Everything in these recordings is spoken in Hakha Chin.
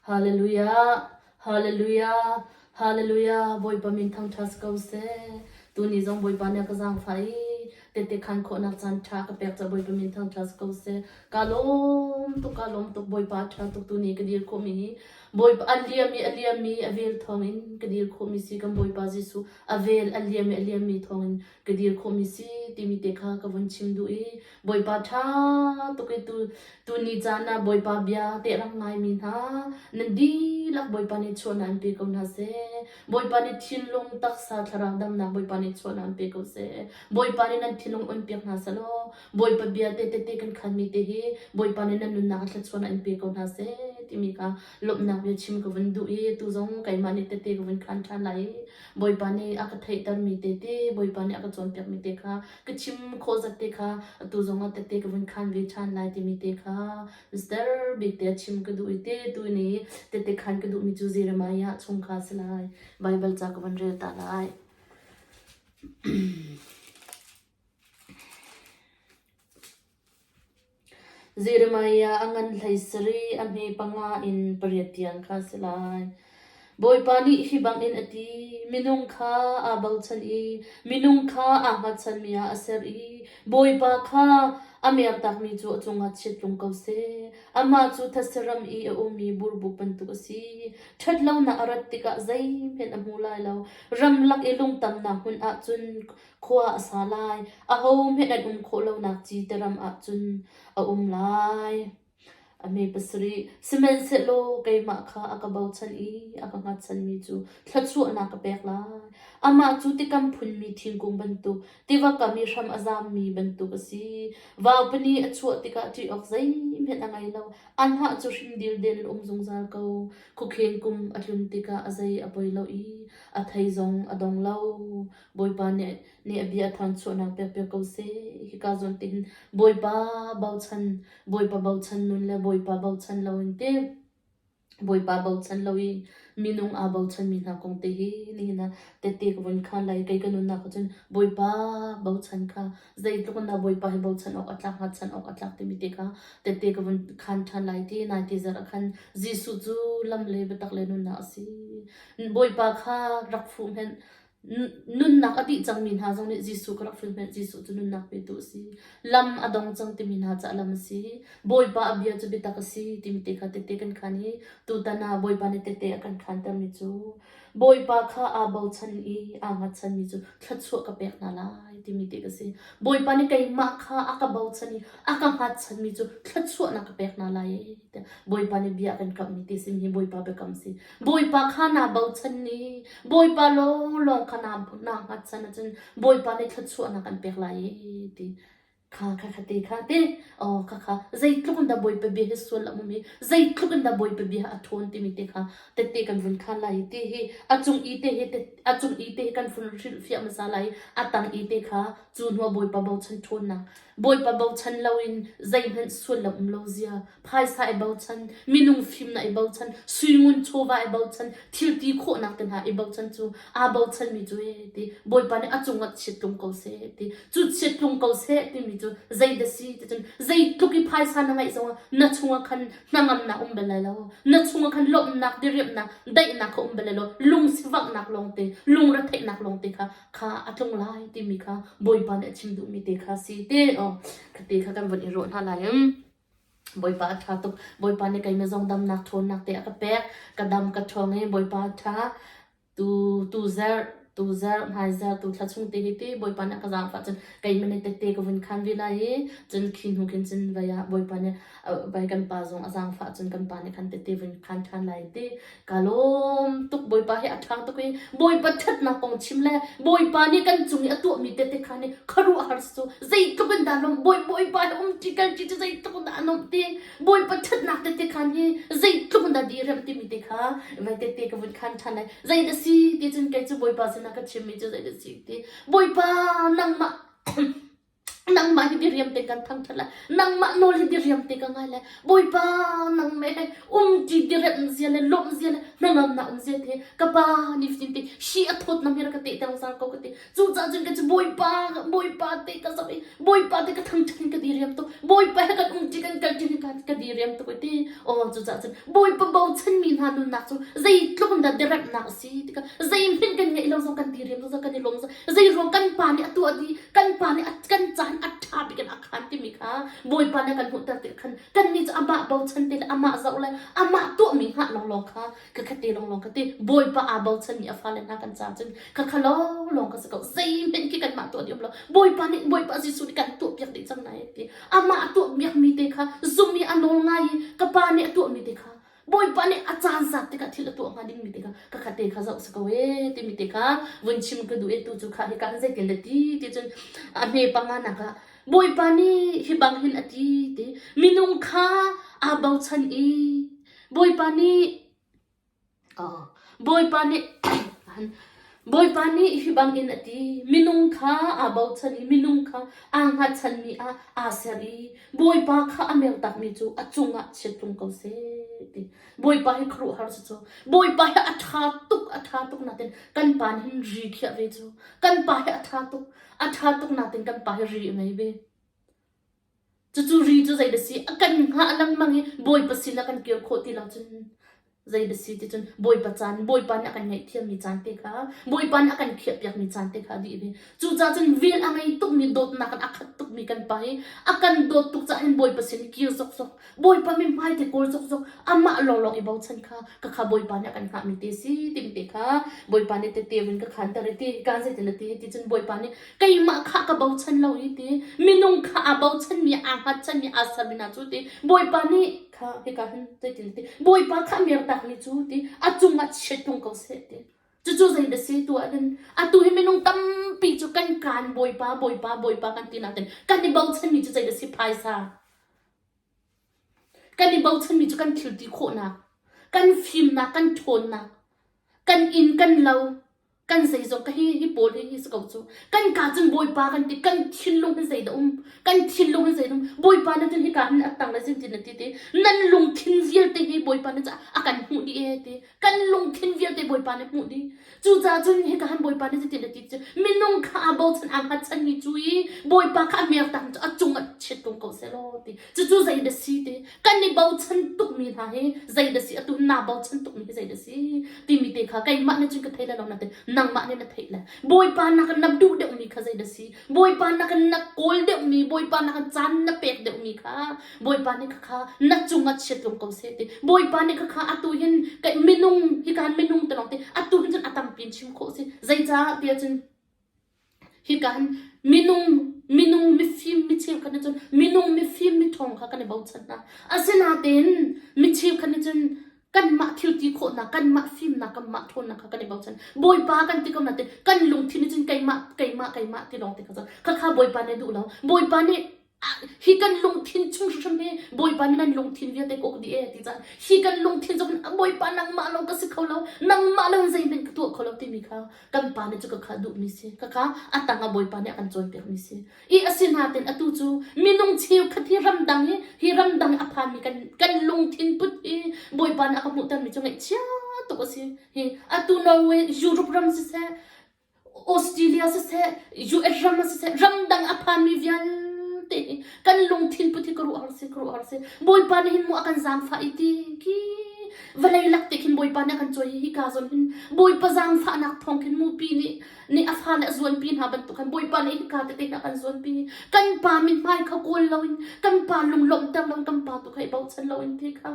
Hallelujah, Hallelujah, Hallelujah, Bawipa min thangṭha si ko seh. Tuni zong Bawipa nih a ka zaangfah i tehte khaan khawhnak caan ṭha ka pek caah Bawipa min thangṭha si ko seh. Kaa lawm tuk, kaa lawm tuk, Bawipa a ṭha tuk tuni ka dir khawhmi hi Bawipa a liam i a liammi a vel thawngin ka dir khawhmi si kan Bawipa Jesuh a vel a liam i a liammi thawngin ka dir khawhmi si timi te kha ka vun chim duh i Bawipa ṭha tuk i tu tuni caan ah Bawipa bia tehrang ngaimi hna nan dihlak Bawipa nih chuahna an pe ko hna seh Bawipa nih thinlung taksa thlarau damnak Bawipa nih chuahna an pe ko seh Bawipa nih nan thinlung un piak hna selaw Bawipa bia te tete kan khanmi te hi Bawipa nih nan nunnak a thlachuan an pe ko hna seh timi kha Lawmhnak bia chim ka vun duh i atu zong keimah nih tete ka vun khan ṭhan lai i Bawipa nih a ka theihtermi tete, Bawipa nih a ka cawnpiakmi te kha, ka chim khawh zat te kha atu zongah tete ka vun khan ve ṭhan lai timi te kha Mister bik te a chim ka duh i te tuin i tete khan ka duhmi cu Jeremiah chung kha a si lai. Baibal ca ka vun rel ta lai. Jeremiah a ngan hlei sarih a hme panga in pariat tiang kha a si lai. Bawipa nih hi bangin a ti: Minung kha aa bochan i minung kha aa hngatchanmi ah a ser i Bawipa kha a mertakmi cu a cungah chiat tlung ko seh. Amah cu thasihram i a ummi burbuk bantuk a si. Ṭhatlonak a rat tikah zeihmanh a hmu lai lo. Ramlak i lungtamnak hmun ahcun Khua a sa lai, ahohmanh an um khawh lonak ci te ram ahcun a um lai. A mee pasarih, sihmanhsehlaw keimah kha a ka bochan i a ka hngatchanmi cu thluachuahnak ka pek lai. Amah cu tikam phunmi thingkung bantuk, tiva kam i hram a zammi bantuk a si. Vaupani a chuah tikah ṭih awk zeihmanh a ngei lo. A hnah cu hrim dildil a um zungzal ko. Khukheng kum a tlun tikah a zei a poi lo i a thei zong a dong lo. Bawipa nih, nih a bia a thanchuahnak pekpiak ko seh. Hika zawn tin Bawipa bochan, Bawipa bochan nun le Bawipa bochan lo in te, Bawipa bochan lo i minung aa bochanmi hna kong te hi nihin ah tete ka vun khan lai. Kei ka nunnak ah cun Bawipa bochan kha zeitluk in dah Bawipa hi bochan awk a tlak, hngatchan awk a tlak timi te kha tete ka vun khan than lai ti. Naiti zarh ah khan Jesuh cu lam le biatak le nunnak a si. Bawipa kha rak fuh hmenh, Nunnak a dih cangmi hna zong nih Jesuh ka rak hrilhhmenh. Jesuh cu nunnak petu a si. Lam a dong cang timi hna cu a lam a si. Bawipa a bia cu biatak a si timi te kha tete kan khan i tutan ah Bawipa nih tete a kan khantermi cu Bawipa kha aa bochan i aa hngatchanmi cu thluachuah ka pek hna lai timi te ka si. Bawipa nih keimah kha a ka bochan i a ka hngatchanmi cu thluachuahnak ka pek hna lai. Bawipa nih bia kan kamhmi ti sin hi Bawipa biakam si. Bawipa kha naa bochan i Bawipa lawnglawng kha naa naa hngatchan ahcun Bawipa nih thluachuahnak an pek lai i ti. Kha kha kha ti kha ti oh kha kha zeitluk in dah Bawipa bia hi sual a mum i zeitluk in dah Bawipa bia a thawn timi te kha tette kan vun khan lai i ti hi a cung i te hi te- a cung i te hi kan vun hrilhfiah hmasa lai i a tang i te kha cu hnuah Bawipa bochan ṭhawnnak Bawipa bochan loin zeihmanh sual a um lo zia. Phaisa i bochan, minung fimnak i bochan, suingun chawva i bochan, thilti khawhnak te hna i bochan cu aa bochanmi cu ee ti. Bawipa nih a cungah chiat tlung ko seh ti. Cu chiat tlung ko seh timi cu zeidah si ticun zeitluk i phaisa na ngeih zongah na chungah khan hnangamnak um bal lai lo. Na chungah khan lawmhnak, diriamhnak, daihnak kha um bal lai lo. Lungsivaknak lawngte, lungretheihnak lawngte kha kha a tlung lai timi kha Bawipa nih a chim duhmi te kha si te te kha kan von i ruah hna lai. Bawipa a ṭha tuk. Bawipa nih keimah zong damnak ṭhawnnak te a ka pek. Ka dam ka ṭhawng i Bawipa a ṭha. Tu tu zer tu zer nai zer tu thla chung te hi ti Bawipa nih a ka zaangfah cun keimah nih tette ka vun khan ve lai i cun khi hnu khin cun vai ah Bawipa nih vai kan pa zong a zaangfah cun kan pa nih khan tette vun khan ṭhan lai ti Ka lawm tuk Bawipa he a ṭhang tuk i Bawipa ṭhatnak kong chim le Bawipa nih kan cung i a tuahmi tete kha nih khuaruah har cu zeitluk in dah lawmh Bawipa he um ṭi kal ṭi cu zeitluk in dah a nuamh ti Bawipa ṭhatnak tete khan hi zeitluk in dah di remh timi te kha vai tete ka vun khan ṭhan ai zei da si ti cun kei cu Bawipa sinah ka chimmi cu zei da si ti Bawipa nangmah Nangmah hi diriam te kan thangṭhat lai. Nangmah nawl hi diriam te ka ngai lai. Bawipa, nang meh le umṭi direntzia le lawmhzia le hnangamnak umzia te ka Pa nifatin te si a thawtnam hi rak ka teh tengzar ko ka ti. Cucaah cun ka cu Bawipa, Bawipa te ka zoh i Bawipa te ka thangṭhat in ka diriam tuk. Bawipa he kan umṭi kan kal ṭi ka, ka diriam tuk i ti. Aw cucaah cun Bawipa bochanmi hna nunnak cu zeitluk in dah diremhnak a si tikah zei hmanh kan ngeih lo zong kan diriam zong zong kan i lawm zong Zeiruang kan pa nih a tuah dih, kan pa nih a, kan caan a ṭha bik in a khan timi kha Bawipa nih a kan hmuhter ti a khan. Kannih cu amah bochan ti le amah zoh le amah tuahmi hngah lawnglawng kha ka kha ti lawnglawng ka ti. Bawipa aa bochanmi a fale hna kan caah cun ka kha lawnglawng ka si ko. Zeihmanh khi kanmah tuah dih um lo. Bawipa nih Bawipa Jesuh nih kan tuahpiak dih cang nai a ti. Amah a tuahpiakmi te kha zumh i a nawl ngai i ka pa nih a tuahmi te kha Bawipa nih a caan zat tikah thil a tuah hnga dingmi tikah ka kha te kha zoh sa ko e timi te kha vun chim ka duh e tu cu kha hi kan zei le ti ti cun a hme panga nak ah Bawipa nih hi bang hin a ti ti minung kha aa bochan i Bawipa nih Bawipa nih Bawipa nih hi bangin a ti: Minung kha aa bochan i minung kha aa hngatchanmi ah aa ser i Bawipa kha a mertakmi cu a cungah chiat tlung ko seh, ti. Bawipa hi khuaruahhar si cu. Bawipa hi a ṭha tuk, a ṭha tuk nakin kan pa nih hin ri khiah ve cu. Kan pa hi a ṭha tuk, a ṭha tuk nakin kan pa hi ri a ngei ve. Cucu ri cu zei da si a kan hngah a lengmang i Bawipa sin a kan kir khawh ti lo cun zei da si ti cun Bawipa caan, Bawipa nih a kan ngaihthiammi caan te kha, Bawipa nih a kan khiahpiakmi caan te kha a dih i cucaah cun vel a ngei tukmi, dawtnak in a khat tukmi kan pa i a kan dawt tuk caah hin Bawipa sin i kir sawksawk Bawipa mi hmaite kor zokzok amah lawnglawng i bochan kha ka kha Bawipa nih a kan hngahmi ti si timi te kha Bawipa nih teteu in ka khanter i ti kaan zeitin a ti ti cun Bawipa nih keimah kha ka bochan lo i ti minung kha aa bochanmi aa hngatchanmi aa sermi hna cu ti Bawipa nih kha hika hin zeitin a ti Bawipa kha a mertak ni cu ti a cungah chiat tung ko seh ti cucu zei da si tu ahcun atu hi minung tampi cu kan kaan Bawipa Bawipa Bawipa kan ti nakin kan i bochanmi cu zei da si phaisa Kan i bochanmi cu kan thil ti khawhnak, kan fimnak, kan ṭhawnnak, kan inn, kan lo, kan zeizong ka hi, hi pawl hi, hi si ko cu. Kan kaa cun Bawipa kan ti, kan thinlung hi zei dah um, kan thinlung hi zei dah um, Bawipa na cun hika hin a ttang le cun ti na ti ti. Nan lungthin vialte hi Bawipa na caah a kan hmuh dih e ti. kan lungthin vialte Bawipa nih hmuh dih. Cucaah cun hi ka han Bawipa nih cutin a ti cu minung kha aa bochan aa hngatchan mi cu i Bawipa kha a mertak cu a cung a chiat ko ko seh law ti cucu zei da si ti kan i bochan tuk mi hna hi zei da si atu naa bochan tuk mi hi zei da si timi te kha keimah nih cun ka thei le lo na te nangmah nih na theih le Bawipa nak in na duh deuh mi kha zei da si Bawipa nak in na kawl deuh mi Bawipa nak in caan na pek deuh mi kha Bawipa nih khakha na cungah chiatlung ko seh ti. Bawipa nih khakha atu hin minung hi kan minung te lawng ti atu hin cun atampi in chim khawh si. Zeicaah tiah cun hi kan minung minung mifim mi cheu khan cun minung mifim mi thong kha kan i bochan hna asinatein mi cheu khan cun kanmah thil ti khawhnak kanmah fimnak kanmah ṭhawnnak kha kan i bochan bawipa kan ti kom natin kan lungthin cun keimah keimah keimah ti lawng ti kha khakha bawipa nih duh lo bawipa nih hi kan lungthin chung hrimhrim hi Bawipa nih nan lungthin vialte ka uk dih e ti caan hi kan lungthin cu Bawipa nangmah lawng ka si kho lo nangmah lo in zeihmanh ka tuah kho lo timi kha kan pa nih cu ka kha duhmi si ka kha a tang ah Bawipa nih a kan cawnpiakmi si i a si naten atu cu minung cheukhat hi ramdang hi hi ramdang a phanmi kan kan lungthin put hi Bawipa nih a ka hmuhtermi cu ngaihchia tuk a si hi atu Norway Europe ram siseh Australia siseh, US ram ah siseh, ramdang a phanmi vialte hi kan lungthin put hi ka ruah har si, ka ruah har si. Bawipa nih hin mu a kan zaangfah i ti ki vawlei lak te khin Bawipa nih a kan cuai hi hika zawn hin Bawipa zaangfahnak thawng khin mupi nih nih a fa le a zuanpi hna bantuk khan Bawipa nih hika tete hin a kan zuanpi. Kan pa min hmai kha kawl lo in kan pa lunglawmhter lo in kan pa tu kha i bochan lo in ti kha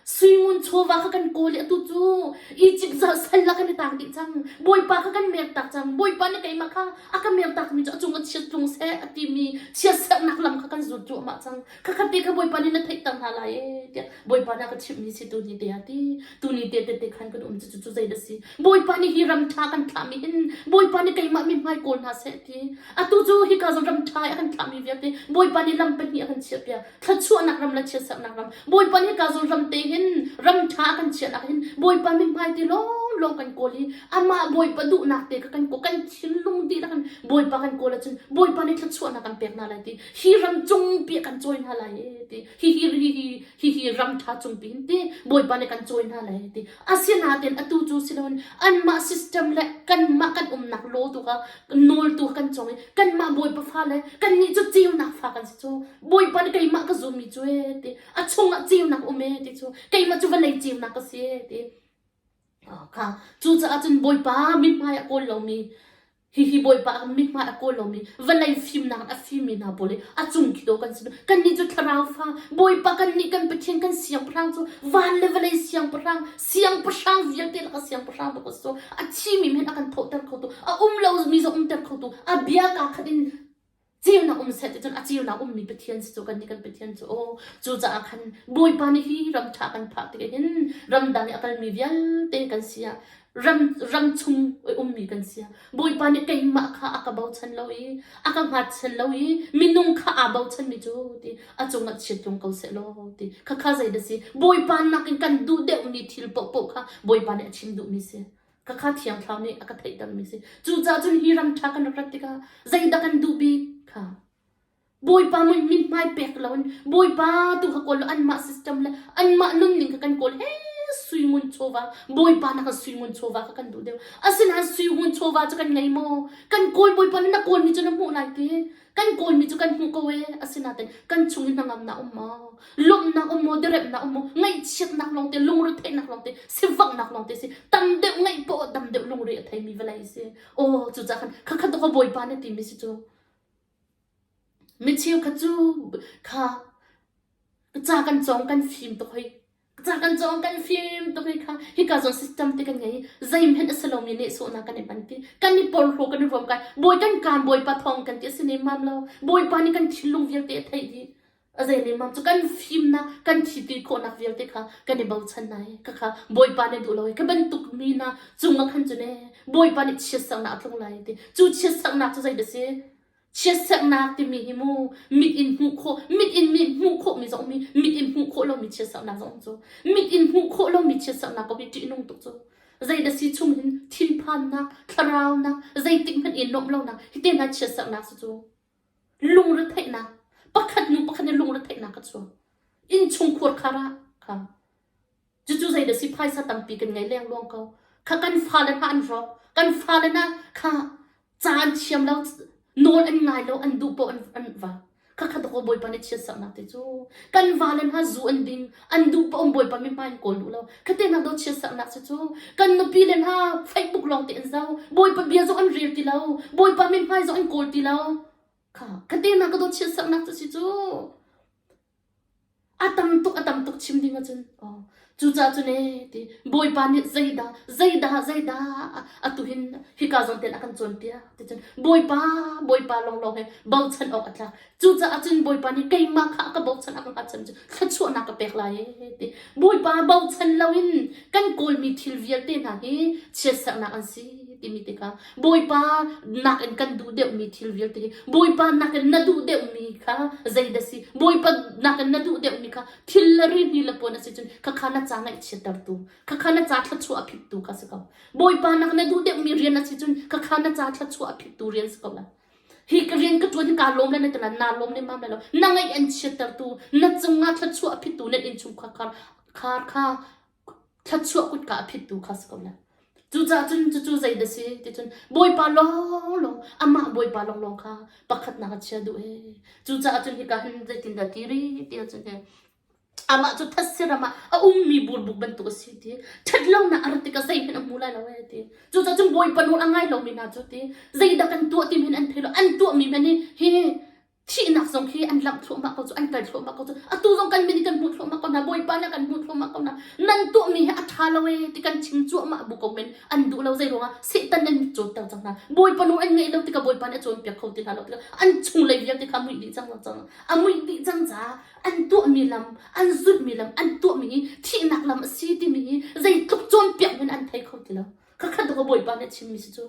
Suingun chawva kha kan kawl i atu cu Izipt zah sal ah kan i tang dih cang. Bawipa kha kan mertak cang. Bawipa nih keimah kha a ka mertakmi cu a cung a chiat tlung seh a timi chiatserhnak lam kha kan zut cuahmah cang. Khakhatte kha Bawipa nih na theihter hna lai ee tiah Bawipa nih a ka chimhmi si tu ni te a ti. Tu ni te tete khan kan um cucu cu zei da si. Bawipa nih hi ram ṭha kan thlahmi hin Bawipa nih keimah mi hmai kawl hna seh ti. Atu cu hika ram ṭha i a kan thlahmi vialte Bawipa nih lam pahnih a kan chiahpiak. thluachuahnak ram le chiatserhnak ram bawipa nih hika zul ram te hin ram ṭha a kan chiah nak hin bawipa min hmai ti lawng lawng kan kawl i amah bawipa duhnak te kha kan kawl kan thinlung dihlak in bawipa kan kawl ahcun bawipa nih thluachuahnak kan pek hna lai ti hi ram cung pi kan cawi hna lai ti hi hi hi hi hi ram ṭha cung pi hin ti bawipa nih kan cawi hna lai ti Asinain atu cu si loin anmah system le kanmah kan umnak law tu kha nawl tu kan cong i kanmah Bawipa fa le kannih cu ceunak fa kan si cu. Bawipa nih keimah ka zummi cu ee ti a chungah ceunak um ee ti cu keimah cu vawlei ceunak ka si ee ti. Oh, kha cucaah cun Bawipa mithmai a kawl lomi Hihi Bawipa ka mithmai a kawl lomi, vawlei fimnak a fimi hna pawl i a cung khi to kan si. Kannih cu thlarau fa, Bawipa kannih kan Pathian kan siangpahrang cu van le vawlei siangpahrang, siangpahrang vialte laka siangpahrang bak so a thimi men a kan thawhter kho tu, a um lomi zong umter kho tu, a bia kaa khat in ceunak um set cun a ceunak ummi Pathian si cu kan nih kan Pathian cu aw cucaah khan Bawipa nih hi ram ṭha kan phak tik hin ramdang i a kalmi vialte kan si ah ram ram chung i ummi kan si ah Bawipa nih keimah kha a ka bochan lo i a ka hngatchan lo i minung kha aa bochanmi cu ti a cungah chiatlung ko seh law ti khakha zeidah si Bawipa nakin kan duh deuhmi thil paohpaoh kha Bawipa nih a chim duhmi si ka kha thiang thlau nih a ka theihdammi si cucaah cun hi ram ṭha kan rak rat tikah zeidah kan duh bik kha bawipa min hmai pek loin bawipa tu kha kawl anmah system le anmah nunning kha kan kawl he suimun chawva bawipa na kan suimun chawva kha kan duh deuh asinain suimun chawva cu kan ngei maw kan kawl bawipa na kawl mi cu na hmuh lai ti Kan kawlmi cu kan hmuh ko e asinain kan chung i hnangamnak um maw lawmhnak um maw derepnak um maw ngaihchiatnak lawng te lungretheihnak lawng te sivanghnak lawng te si tam deuh ngaih poh dam deuh lungre a theimi vawlei si aw cucah khan khakhat ka bawipa na timi si cu micheu kha cu kha ca kan cawng kan fim tuk hoi Ca kan cawng kan fim tuk hi kha hika zawn system te kan ngei i zeihmanh a si lomi nehsawhnak kan i panti kan i porhlaw kan i vuam kai bawi kan kaan bawipa thawng kan ti a si nemmam lo bawipa nih kan thinlung vialte a theih dih a zei nemmam cu kan fimnak kan thi ti khawhnak vialte kha kan i bochan nai ka kha bawipa nih duh lo i ka bantuk mi na cung a khan cu ne bawipa nih chiat saknak a tlung lai ti cu chiat saknak cu zei da si chiatsaknak timi hi mu mit in hmuh khawh mit in hmuh khawh mi zong mi mit in hmuh khawh lomi chiatsaknak zong cu mit in hmuh khawh lomi chiatsaknak ka bi ṭihnung tuk cu zeidah si chung hin thinphannak thlaraunak zeitik hmanh i nuamh lonak hite na chiatsaknak su cu lungretheihnak pakhat hnu pakhat in lungretheihnak ka chuak inn chung khur khara kha Cucu zei dah si phaisa tampi kan ngei lengluang ko. Kha kan fale hna an hrawk. Kan fale hna kha ca an thiam lo, nawl an ngai lo, an duh poh an, an va. Kha kha doko Bawipa nih chia saknak te cu. Kan vale hna zu an din, an duh poh um Bawipa mi hmai in kawl u lo. Kha te hna do chia saknak cu cu. Kan nupi le hna Facebook lawng te an zau. Bawipa bia zong an rel ti lo. Bawipa min hmai zong an kawl ti lo. Kha, kha te hna ka do chia saknak cu si cu. A tam tuk a tam tuk chim ding ahcun cucaah cun ee ti Bawipa nih zeidah zeidah zeidah a tuhin hika zawn tein a kan cawnpiak ticun Bawipa Bawipa lawnglawng he bochan awk a tlak cucaah cun Bawipa nih keimah kha a ka bochan a ka hngalchan cu thluachuahnak ka pek lai ee ti Bawipa bochan loin kan kawlmi thil vialte hna hi chiatserhnak an si timi tikah Bawipa nakin kan duh deuhmi thil vialte hi Bawipa nakin na duh deuhmi kha zei dah si Bawipa nakin na duh deuhmi kha thil la ri ni la puan a si cun khakha na ca ngaihchiattertu khakha na ca thluachuah a phittu kha si ko Bawipa nakin na duh deuhmi rian a si cun khakha na ca thluachuah a phittu rian si ko la hi ka rian ka tuan hi kaa lawm le na tala naa lawm le mam le lo na ngaih an chiattertu na cungah thluachuah a phittu na in chung khar khar kha Thluachuah kutka a phittu kha a si ko lai. Cucaah cun cucu zei na si ticun Bawipa lawnglawng amah Bawipa lawnglawng kha pakhatnak a chia duh ee. Cucaah cun hika hin zeitindah ti rih tiah cun he amah cu thasiram ah a ummi burbuk bantuk a si ti ṭhatlonak a rat tikah zeihin a hmu lai lo ee ti. Cucaah cun Bawipa nawl a ngai lomi hna cu ti zeidah kan tuah ti men an thei lo an tuahmi men hi hi thihnak zong hi an langh thluahmah ko cu an kal thluahmah ko cu atu zong kan min hi kan hmuh thluahmah ko hna bawipa nih kan hmuh thluahmah ko hna nan tuahmi hi a ṭha lo e ti kan chim cuahmah bu ko men an duh lo zei ruangah setan an mit cawnter cang hna bawipa nu an ngei lo tikah bawipa nih a cawnpiak kho ti hna lo tikah an chunglei vialte kha a muih dih cang cang a muih dih cang caah an tuahmi lam an zulhmi lam an tuahmi hi thihnak lam a si timi hi zeitluk cawnpiak men an thei kho ti lo khakhat ko bawipa nih a chimmi si cu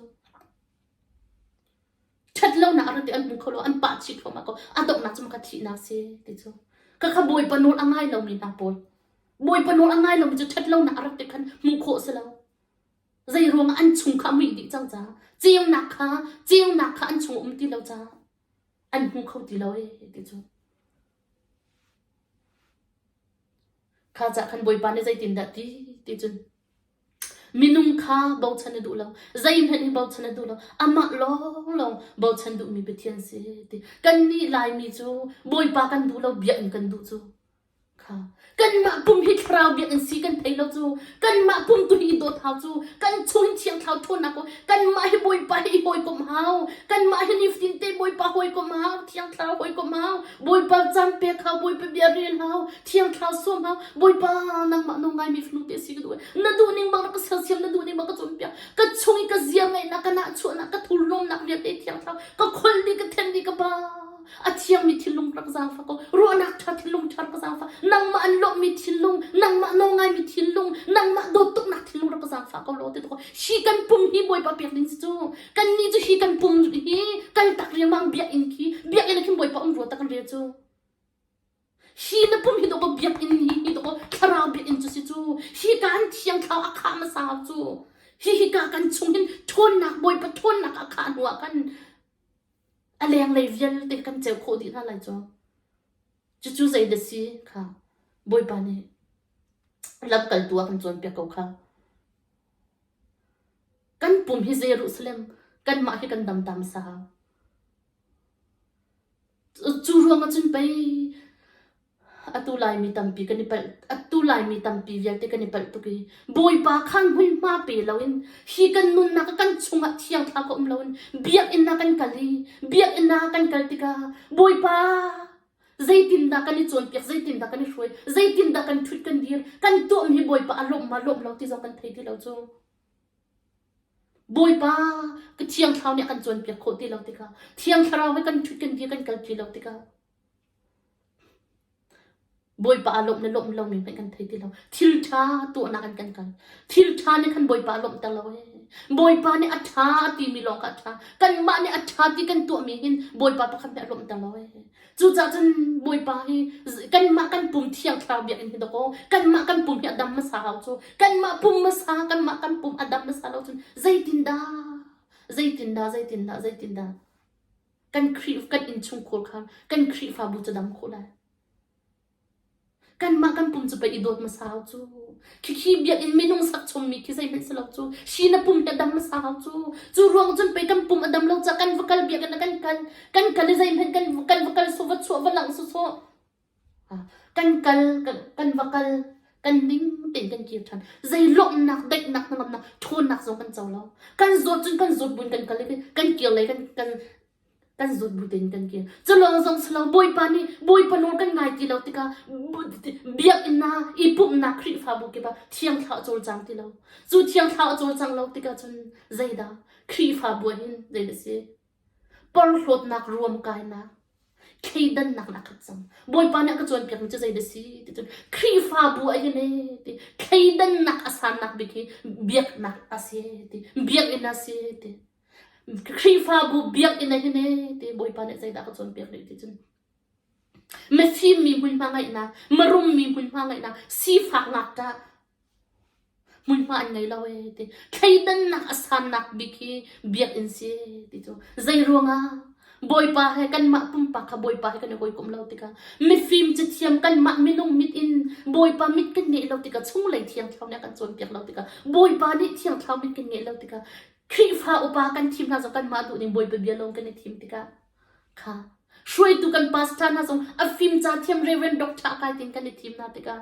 ṭhatlonak a rate an hmu kho lo, an pah chih thluahmah ko. A donghnak cu maka thihnak si ti cu. Khakha Bawipa nawl a ngai lomi hna pawl, Bawipa nawl a ngai lomi cu ṭhatlonak a rak ti khan hmuh khawh si lo. Zei ruangah an chung kha a muih dih cang caah, ceunak kha, ceunak kha an chung a um ti lo caah an hmu kho ti lo ee ti cu. Kha cah khan Bawipa nih zeitindah ti ti cun Minung kha bochan a duh lo. Zeihmanh in bochan a duh lo. Amah lawnglawng bochan duhmi Pathian si ti. Kannih Laimi cu Bawipa kan duh lo, biakinn kan duh cu. Kha. Kanmah pum hi thlarau biakinn si kan thei lo cu. Kanmah pum tu hi i dawt hau cu. Kan chung hi thiangthlau ṭhawnnak u. Kanmah hi Bawipa hi i hawikomh hau. Kanmah hi nifatin te Bawipa hawikomh hau, thiangthlarau hawikomh hau. Bawipa caan pe hau, Bawipa bia rel hau, thiangthlau suam hau, Bawipa nangmah nawl ngaimi fanu ti asi ka duh. Na duh ning bang na ka sersiam, na duh ning bang ka cawnpiak. Ka chung i ka ziarngaihnak, ka nahchuahnak, ka thurlawmnak vialte thiangthlau, ka kholh dih, ka then dih, ka pa. A thiangmi thinlung rak zaangfa ko, ruahnak ṭha thinlung ṭha rak zaangfa, nangmah an lawmhmi thinlung, nangmah nawl ngaimi thinlung, nangmah dawttuknak thinlung rak zaangfa ko law ti ko. Hi kan pung hi Bawipa pek ding si cu. Kannih cu hi kan pum hi kal tak riangmang biakinn khi biakinn ah khin Bawipa um rua tak an rel cu. Hi na pum hi dawkaw biakinn hi hi dawkaw thlarau biakinn cu si cu. Hi kan thiang thlau a kha hmasa cu. Hi hi ka kan chung hin ṭhawnnak Bawipa ṭhawnnak a kha hnu ah kan a leng lei vialte kan ceu khawh dih hna lai cu. Cucu zeidah si kha Bawipa nih lamkaltu a kan cawnpiak ko kha. Kan pum hi Jerusalem kanmah hi kan damtam sau. Cu ruang ahcun pei atu Laimi tampi kan i palh, atu Laimi tampi vialte kan i palh tuk i Bawipa kha hmuihma pe loin hi kan nunnak ah kan chungah thiangthla ka um loin Biakinn ah kan kal i Biakinn ah kan kal tikah Bawipa! Zeitindah kan i cawnpiak, zeitindah kan i hruai, zeitindah kan ṭhut kan dir, kan i tuahmi Bawipa a lawmh ma lawmh lo ti zong kan thei ti lo cu. Bawipa ka thiang thlarau nih a kan cawnpiak khawh ti lo tikah, thiang thlarau he kan ṭhut kan dir kan kal ti lo tikah, Bawipa a lawmh le lawmh lomi hmanh kan thei ti lo. Thil ṭha tuahnak in kan kal. Thil ṭha nih khan Bawipa a lawmhter lo ee. Bawipa nih a ṭha timi lawng kha a ṭha. Kanmah nih a ṭha ti kan tuahmi hin Bawipa pakhat nih a lawmhter lo ee. Cucaah cun Bawipa hi z- kanmah kan pum thiang thlarau biakinn hi dakaw, kanmah kan pum hi a dam hmasa hau cu. Kanmah pum hmasa, kanmah kan pum a dam hmasa lo cun zeitindah, zeitindah, zeitindah, zeitindah kan Khrih kan innchungkhur kha kan Khrihfabu cu dam khawh lai. Kanmah kan pum cu pei i dawt hmasau cu. Khikhi biakinn minung sak chommi khi zeihmanh si lo cu. Hri na pum hi a dam hmasau cu. Cu ruang cun pei kan pum a dam lo caah kan va kal biakinn ah kan kal. Kan kal i zeihmanh kan kan va kal sawh va chuah va langh sawsawh. Ah, kan kal, kan, kan va kal. Kan ning tein kan kir ṭhan. Zei lawmhnak, daihnak, hnangamnak, ṭhawnnak zong kan co lo. Kan zawt cun kan zawt buin kan kal i kan kir lei kan, kan, kan zut bu tein kan kil. Cu lawng zong si lo Bawipa nih Bawipa nawl kan ngai ti lo tikah biakinn i pumhnak Khrihfabu kip ah thiangthlau a cawlcang ti lo. Cu thiangthlau a cawlcang lo tikah cun zeidah Khrihfabu ah hin zei a si? Porhlawtnak ruam kainak thleidannak na khat cang. Bawipa nih a ka cawnpiakmi cu zei da si ti cun Khrihfabu a hin e ti thleidannak a sannak bik hi biaknak a si ti biakinn a si ti Khrihfabu biakinn ah hin ee ti Bawipa nih zeidah ka cawnpiak rih ti cun mifim mi hmunhma ngeihnak, mirum mi hmunhma ngeihnak, sifak ngakṭah hmunhma an ngei lo ee ti. Thleidannak a sannak bik hi biakinn si ee ti cu. Zeiruangah? Bawipa he kanmah pumpak kha Bawipa he kan i hawikomh lo tikah mifim cathiam kanmah minung mit in Bawipa mit kan ngeih lo tikah chunglei thiangthlau nih a kan cawnpiak lo tikah Bawipa nih thiangthlau mit kan ngeih lo tikah Khrihfa upa kan thim hna zong kanmah duh ning Bawipa bia lawng kan i thim tikah kha hruaitu kan pastor hna zong a fim ca thiam Reverend Doctor Akai Ting kan i thim hna tikah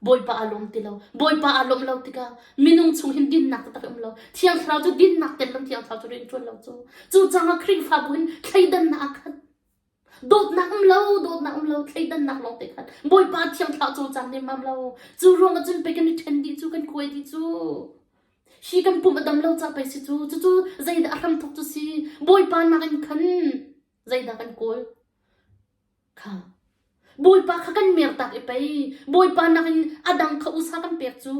Bawipa aa lawm ti lo Bawipa aa lawmh lo tikah minung chung hin dinnak taktak a um lo Thiang Thlarau cu dinnak tel lo Thiang Thlarau cu rian ṭuan lo cu cu caah Khrihfabu hin thleidannak a khat Dawtnak um lo, dawtnak um lo, thleidannak lawng te khan Bawipa thiangthla cawcang nemmam lo. Cu ruang ahcun pei kan i ṭhen dih cu, kan kuai dih cu. Hi kan pum a dam lo ca pei si cu. Cucu zeidah a hramthawk cu si. Bawipa nakin khan zeidah kan kawl. Kha Bawipa kha kan mertak i pei Bawipa nakin a dang kha usa kan pek cu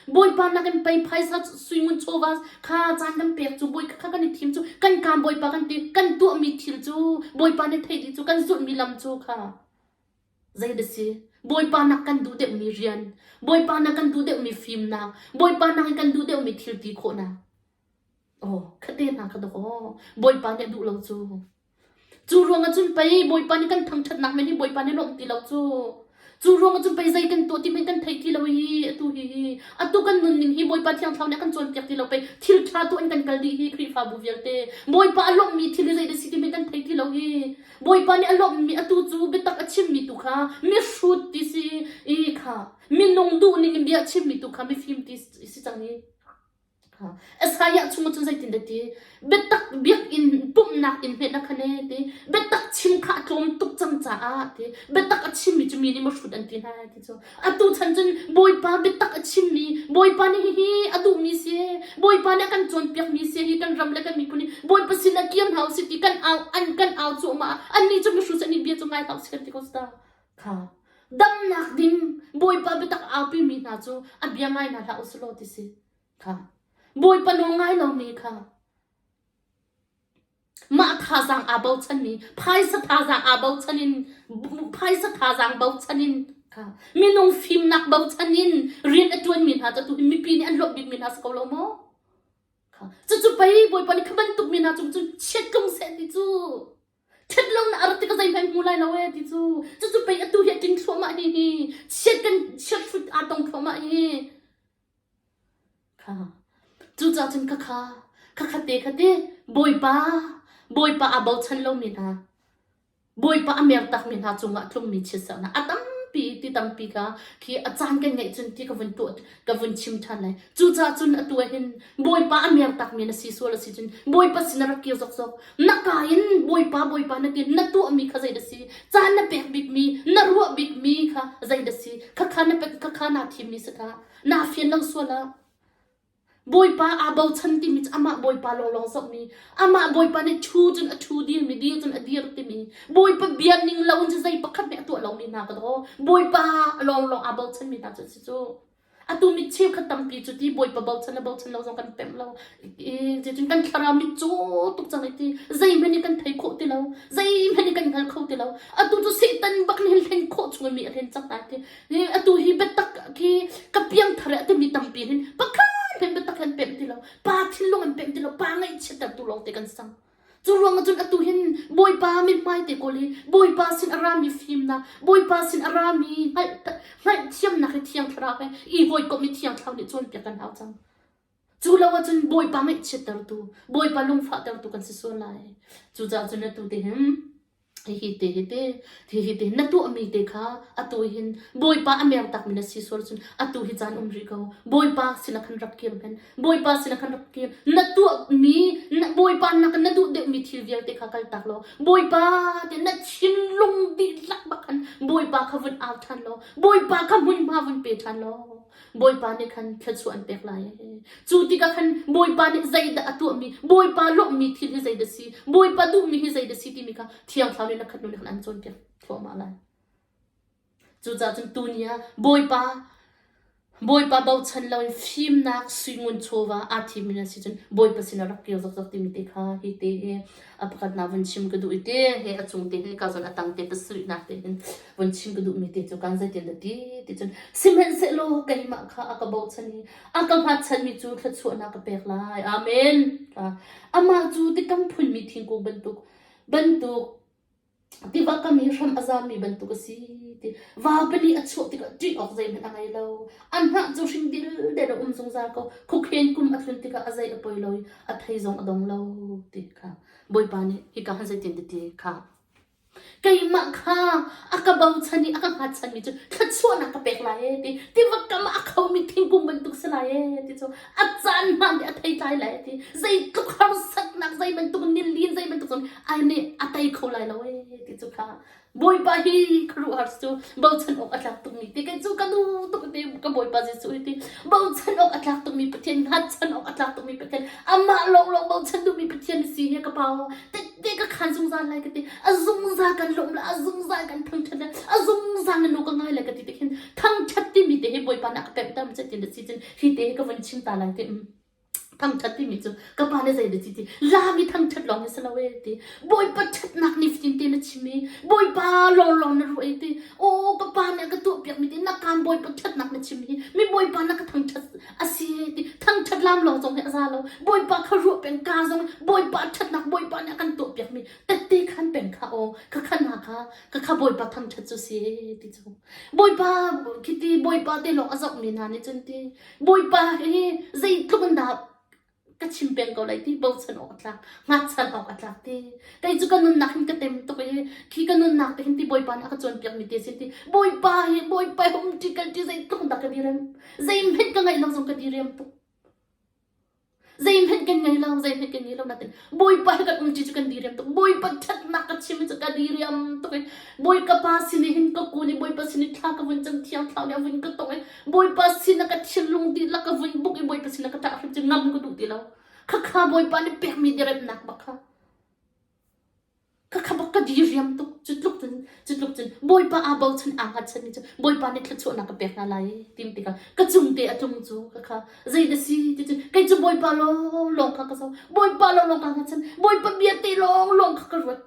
Bawipa nakin pei phaisa suingun chawva kha caan kan pek cu Bawipa kha kan i thim cu kan kaam Bawipa kan ti kan tuahmi thil cu Bawipa nih thei dih cu kan zulhmi lam cu kha zeidah si Bawipa nak kan duh deuhmi rian Bawipa nak kan duh deuhmi fimnak Bawipa nakin kan duh deuhmi thil ti khawhnak aw kha te hna ka dawk aw Bawipa nih a duh lo cu Cu ruangah cun pei Bawipa nih kan thangṭhatnak men hi Bawipa nih a lawmh ti lo cu. Cu ruangah cun pei zei kan tuah ti men kan thei ti lo hi atu hihi atu kan nunning hi Bawipa Thiang Thlarau nih a kan cawnpiak ti lo pei thil ṭha tuah in kan kal dih hi Khrihfabu vialte Bawipa a lawmhmi thil hi zei dah si ti men kan thei ti lo hi Bawipa nih a lawmhmi atu cu biatak a chimmi tu kha mihrut ti si i kha minung duhning in bia a chimmi tu kha mifim ti si cang hi. Isaiah chungah cun zeitindah ti biatak biakinn pumhnak in hneknak kha ne ti biatak chim kha a tlawm tuk cang caah ti biatak a chimmi cu mi nih mahrut an ti hna ti cu atu chan cun bawipa biatak a chimmi bawipa nih hihi a duhmi si bawipa nih a kan cawnpiakmi si hi kan ram le kan miphun hi bawipa sinah kir hna u sih ti kan au an kan au cuahmah annih cu mahrut an i bia cu ngai hlah u sih kan ti ko ta damnak ding Bawipa biatak aupimi hna cu a bia ngai hna hlah u sih law ti si kha Bawipa nawl ngai lomi kha mah thazaang aa bochanmi phaisa thazaang aa bochan in phaisa thazaang bochan in kha minung fimnak bochan in rian a tuanmi hna cu tuhin mipi nih an luat bikmi hna si ko lo maw kha cucu pei Bawipa nih kha bantuk mi hna cung cun chiat tlung seh ti cu ṭhatlonak a rat tik ah zeihmanh hmu lai lo ee ti cu cucu pei atu hi a tling thluahmah hihi chiat kan chiat hrut aa tong thluahmah hi kha cucaah cun khakha khakha te khate bawipa bawipa aa bochan lomi hna bawipa a mer takmi hna cungah tlungmi chiatserhnak a tampi ti tampi kha khi a caan kan ngeih cun ti ka vun tuah ka vun chim ṭhan lai. Cucaah cun atu ah hin Bawipa a mer takmi na si sual a si cun Bawipa sin rak kir zokzok. Na ka in Bawipa Bawipa nakin na tuahmi kha zei dah si? Caan na pek bikmi, na ruah bikmi kha zei dah si? Khakha na pek khakha naa thimmi si khah. Naa fian lo sual ah. Bawipa aa bochan timi cu amah Bawipa lawnglawng zohmi, amah Bawipa nih thu cun a thu dirmi, dir cun a dir timi, Bawipa bia ning loin cu zei pakhat nih a tuah lomi hna ka daw. Bawipa lawnglawng aa bochanmi hna cu a si. Atu mit cheukhat tampi cu ti Bawipa bochan le bochan lo zong kan temh lo. I zeitin kan thlarau mit cu tuk cang i ti zeihmanh nih kan thei khawh ti lo. Zeihmanh nih kan hngal kho ti lo. Atu cu Satan bak nih hin hlen khawh chung mi a hlen cang hna ti. I atu hi biatak khi ka piangthar i atu mi tampi hin pakhat hen biatak he an pemh ti lo. Pa thinlung an pemh ti lo. Pa ngaihchiatertu lawngte kan sang. Cu ruang ah cun atu hin Bawipa mithmai te kawl hi Bawipa sin a rami fimnak, Bawipa sin a rami hngalh hngalhthiamnak hi Thiang Thlarau he i hawikomh i Thiang Thlarau nih cawnpiak kan hau cang. Cu lo ah cun Bawipa ngaihchiattertu, Bawipa lungfahtertu kan si sual lai. Cucaah cun atu te hin Hihi te hi te, hihi te na tuahmi te kha atu hin Bawipa a mer takmi na si sual cun atu hi caan um rih ko. Bawipa sinah khan rak kir hman. Bawipa sinah khan rak kir. Na tuahmi na, Bawipa nakin na duh deuhmi thil vialte kha kaltak law Bawipa te na thinlung dihlak bak khan Bawipa kha vun au ṭhan law Bawipa kha hmunhma vun pe ṭhan law Bawipa nih khan thluachuah an pek lai. Cu tikah khan Bawipa nih zeidah a tuahmi, Bawipa lawmhmi thil hi zeidah si, Bawipa duhmi hi zeidah si timi kha Thiang Thlarau nih na khat hnu nih khan an cawnpiak thluahmah lai. Cucaah cun tu ni ah Bawipa Bawipa bochan loin fimnak suingun chawva aa thimmi na si cun Bawipa sinah rak kir zokzok timi te kha hi te a pakhat hna vun chim ka duh i te he a chung te he ka zon a tang te pasarih nak te hin vun chim ka duh mi te cu kan zeitin da ti ti cun sihmanhsehlaw keimah kha a ka bochan i a ka hmatchan mi cu thluachuahnak ka pek lai amen amah cu tikam phun mi thingkung bantuk bantuk Tiva kam i hram a zammi bantuk a si ti vaupi nih a chuah tikah ṭih awk zeihmanh a ngei lo. An hnah cu hring dildel a um zungzal ko. Khukheen kum a tlun tikah a zei a poi lo i a thei zong a dong lo ti kha Bawipa nih hika hin zeitin diti kha keimah kha a ka bochan i a ka hngatchanmi cu thluachuahnak ka pek lai ee ti tiva kam ah a khomi thingkung bantuk si lai ee ti cu a caan hmaan nih a theitlai lai ee ti zeitluk harsatnak zei bantuk nilin zei bantuk zong ai nih a tei kho lai lo ee ti cu kha bawipa hi khuaruahhar cu bochan awk a tlak tukmi ti kei cu ka nu tuk ti ka bawipa Jesuh hi ti bochan awk a tlak tukmi Pathian hngatchan awk a tlak tukmi Pathian amah lawnglawng bochan duhmi Pathian si hi ka pau tette ka khan zungzal lai ka ti a zungzal kan hlawm le a zungzal kan phang ṭhan le a zungzal na nu ka ngai le ka ti te khin thangṭhat timi te hi bawipa na ka pemhter ma cet tin na si cun hi te hi ka von chim ta lai te mm Thangṭhat timi cu ka pa nih zeidah a ti ti, laam i thangṭhat lawng hi si lo ee ti. Bawipa ṭhatnak nih fatin tein a chim i Bawipa lawnglawng na ruah ee ti. Aw ka pa nih a ka tuahpiakmi ti na kaan Bawipa ṭhatnak na chim hi mi Bawipa na ka thangṭhat a si ee ti. Thangṭhat laam lawng zong hi a za lo. Bawipa kha ruah peng kaa zong Bawipa ṭhatnak Bawipa nih a kan tuahpiakmi tette khan peng kha aw ka kha hna kha ka kha Bawipa thangṭhat cu si ee ti cu. Bawipa khiti Bawipa te lawng a zohmi hna nih cun ti Bawipa hi zeitluk in dah ka chim peng ko lai ti bochan awk a tlak, ngakchan awk a tlak ti. Kei cu ka nunnak hin ka tem tuk i khi ka nunnak te hin ti Bawipa nih a ka cawnpiak mi te sin ti Bawipa hi Bawipa hi um ṭi kal ṭi zeitluk in dah ka direm, zei hmenh ka ngaih lo zong ka direm tuk. Zeihmanh kan ngei lo, zeihmanh kan ngei lo natin Bawipa he kan umṭi cu kan diriam tuk. Bawipa ṭhatnak ka chim cu ka diriam tuk i Bawipa pa sin i hin ka kun i Bawipa sin i thla ka vun cam, thiang thlarau nih a vun ka tong i Bawipa sinah ka thinlung dihlak ka vun buk i Bawipa sinah ka ṭah hrim cu ngam ka duh ti lo. Khakha Bawipa nih pekmi diriamnak bak kha Ka khabak ka diriam tuk. Cu tluk cun, cu tluk cun Bawipa aa bochan, aa hngatchanmi cu Bawipa nih thluachuahnak ka pek hna lai tiim tikah ka cungte a tlung cu khakha. Zei na si ticun kei cu Bawipa lawnglawng kha ka zoh. Bawipa lawnglawng kaa hngatchan. Bawipa bia te lawnglawng kha ka ruat.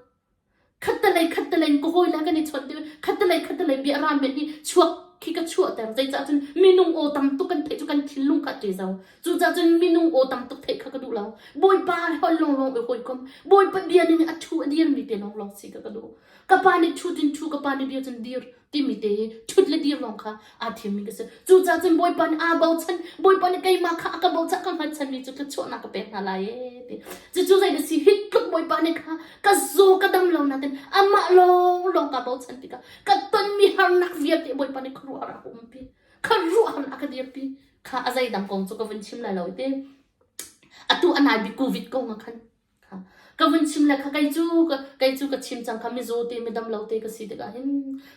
Khattelei khattelei in ka hawile kan i chawnh tikah khattelei khattelei bia ramen hi chuak khi ka chuahter. Zeicah cun minung aw tam tuk kan theih cu kan thinlung kha a ṭe zau. Cucaah cun minung aw tam tuk theih kha ka duh lo. Bawipa he hol lawnglawng i hawikom. Bawipa bia ning i a thu a dirmi te lawnglawng si ka ka duh. Ka pa nih thu tin thu ka pa nih dir cun dir timi te i thut le dir lawng kha aa thiammi ka si. Cucaah cun Bawipa nih aa bochan. Bawipa nih keimah kha a ka bochan ka hngalchanmi cu thluachuahnak ka pek hna lai ee ti. Cucu zei da si hi tluk Bawipa nih kha ka zaw ka dam lo nakin amah lawnglawng kaa bochan tikah ka tonmi harnak vialte Bawipa nih khuaruah a rak umpi. Kha ruahhar a ka dirpi. kha a zeidang kong cu ka vun chim la lo te atu anai bik covid ko nga khan kha ka vun chim le kha kei cu kei cu ka chim chang kha mizaw te midam lo te ka si tikah hin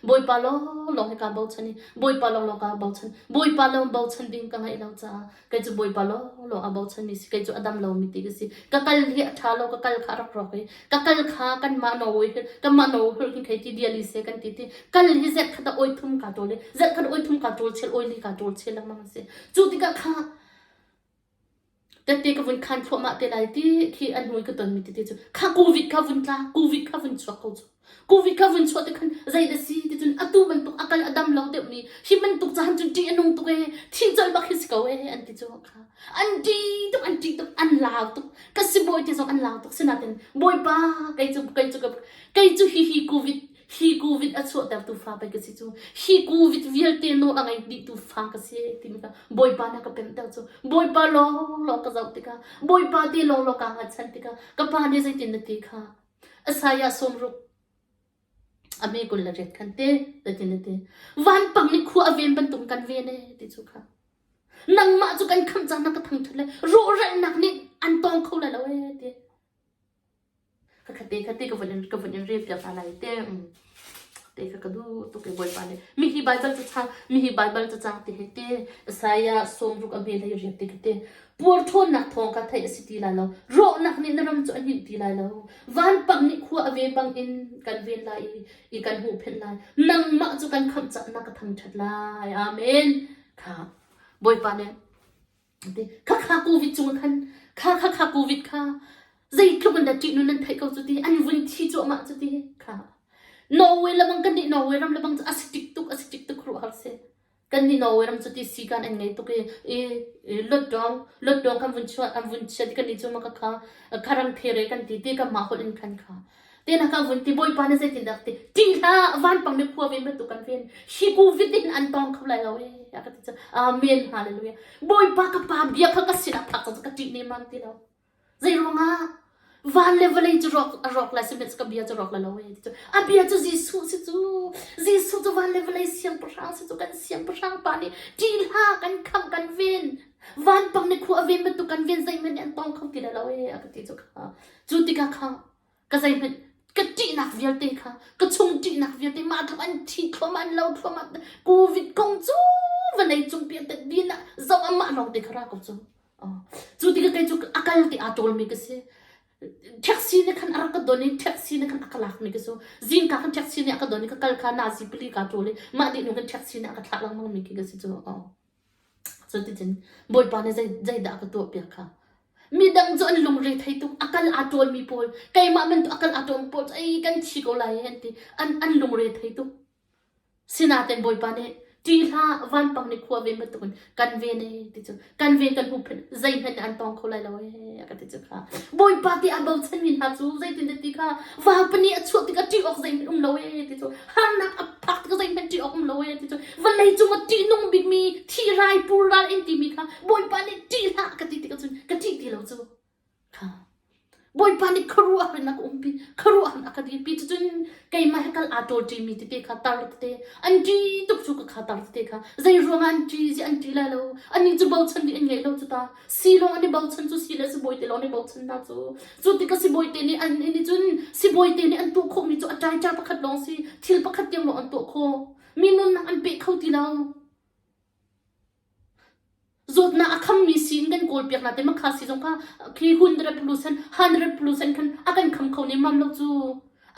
bawipa lo lo he ka bochan i bawipa lo lo ka bochan bawipa lo bochan ding ka ngai lo caah kei cu bawipa lo lo a bochan mi si kei cu a dam lo mi ti ka si ka kal hi a tha lo ka kal kha rak rawk i ka kal kha kanmah na awi kanmah na awi hin thei ti dia li se kan ti ti kal hi zet khat a oi thum ka tul zet khat oi thum ka tul chel oi li ka tul chel lengmang si chu tikah kha tete ka vun khan thua ma te lai ti khi an hui ka ton mi ti chu kha covid kha vun tla covid kha vun chuak ko chu covid kha vun chuak te khan zai da si ti chun atu bantuk akal adam lo deuh mi hi man tuk chan chun ti anung tuk e thin chal bak hi ko e an ti chu kha an ṭih tuk an ṭih tuk an lau tuk ka sibawi te zong an lau tuk sinain bawipa kei cu kei cu kei cu hi hi covid hi covid a chuahtertu fa pei ka si cu hi covid vialte nawl a ngei dihtu fa ka si timi ka bawipa na ka pemhter cu bawipa lawnglawng ka zoh tikah bawipa te lawnglawng kaa ngachan tikah ka pa nih zeitin na ti kha Isaiah sawm ruk A me kul le riat khan te te tin a ti. Vanpang nih khua a ven bantuk in kan ven ee ti cu kha. Nangmah cu kan khamh cang na ka thangṭhat le rawhralnak nih an tawng kho lai lo ee ti. Khakhat te khat te ka von in ka von in rel piak hna lai te. Mm. Te kha ka duh tuk ee Bawipa nih. Mihi Baibal cu cang, mihi Baibal cu cang ti hei te. Isaiah sawmruk a hme lai riat ti ki te. Puar ṭhawnnak thawng kha theih a si ti lai lo. Rawhnak nih na ram cu a hninh ti lai lo. Vanpang nih khua a ve bangin kan ven lai i i kan huhphenh lai. Nangmah cu kan khamh cah na ka thangṭhat lai. Amen. Kha Bawipa nih a ti. Khakha COVID cung khan kha khakha COVID kha zeitluk in dah ṭih nun nan theih ko cu ti an vun thi cu amah cu ti kha Norway lamang kan nih Norway ram lebang cu a si tik tuk a si tik tuk ruah har seh. Kan hi Norway ram cu ti sikan an ngei tuk i luatdawng kan vun chuah kan vun chiat i kannih cu ka ram thereh kan ti ti kanmah holh in kan kha. Tein kan vun ti Bawipa nih zeitindah ka ti ṭih hlah vanpang mi phua ven bantuk kan ven hi covid in an tawng kho lai lo ee a ka ti cu amen hallelujah Bawipa ka pa bia kha ka sinah phak ka ṭih nemam ti lo Zeiruangah? Van le vawlei cu rawk a rawk le sihmanh ka bia cu rawk le lo ee ti cu. A bia cu Jesuh si cu. Jesuh cu van le vawlei siangpahrang si cu kan siangpahrang pa nih ṭihhla kan khangh kan ven. Vanpang nih khua a ven bantuk kan ven zeihmanh nih an tawng kho ti le lo ee a ka ti cu kha. Cu tikah kha ka zeihmanh ka ṭihnak vialte kha ka chung ṭihnak vialte mah tluk an thi thluahmah an lo thluahmah covid kong cu va nei cung piahtet bin ah zong amah lawngte kha ra ko cu cu ti ka kei cu a kal ti aa ṭawlmi ka si taxi ne khan a rak ka don i taxi ne khan a ka lakmi ka su zingka khan taxi ne a ka don i ka kal kha nazi pali ka ṭawl i mah dih nu khan taxi ne a ka thlah lengmangmi khi ka si cu Cuticun Bawipa nih zeidah a ka tuahpiak kha? Midang cu an lungre thei tung, a kal aa ṭawlmi pawl, keimah men tu a kal aa ṭawlmi pawl cu ei kan thi ko lai an ti. An, an lungre thei tung. Sinain Bawipa nih ṭi hlah, vanpang nih khua ve bantukin kan ven ee ti cu kan ven kan huhphenh zeihmanh nih an tawng kho lai lo ee a ka ti cu kha. Bawipa tiah a bochanmi hna cu zeitindah ti kha vapa nih a chuah tikah ṭih awk zeihmanh um lo ee ti cu harnak a phak tikah zeihmanh ṭih awk um lo e an ti cun vawlei cungah ṭihnung bikmi thihrai purral in timi kha Bawipa nih ṭih hlah ka ti tikah cun ka ṭih ti lo cu Bawipa nih khuaruahharnak a umpi khuaruahharnak ka di pi cucun keimah he kal aa ṭol ṭimi tete kha tar tete an ṭi tuk cu ka kha tar tete kha zei ruangah an ṭi zi an ṭi lai lo anih cu bochan dih an ngei lo cu ta Silawng an i bochan cu si le sibawi te lawng an i bochan hna cu. Cu tikah sibawi te nih an nih cun sibawi te nih an tuah khawhmi cu a ṭaiṭa pakhat lawng si thil pakhat tiang lawng an tuah khawh. Mi nunnak an peh kho ti lo. Zawtnak a khammi siin kan kawlpiak hna te makha si zong kha khi hundred percent hundred percent khan a kan kham kho nem mam lo cu.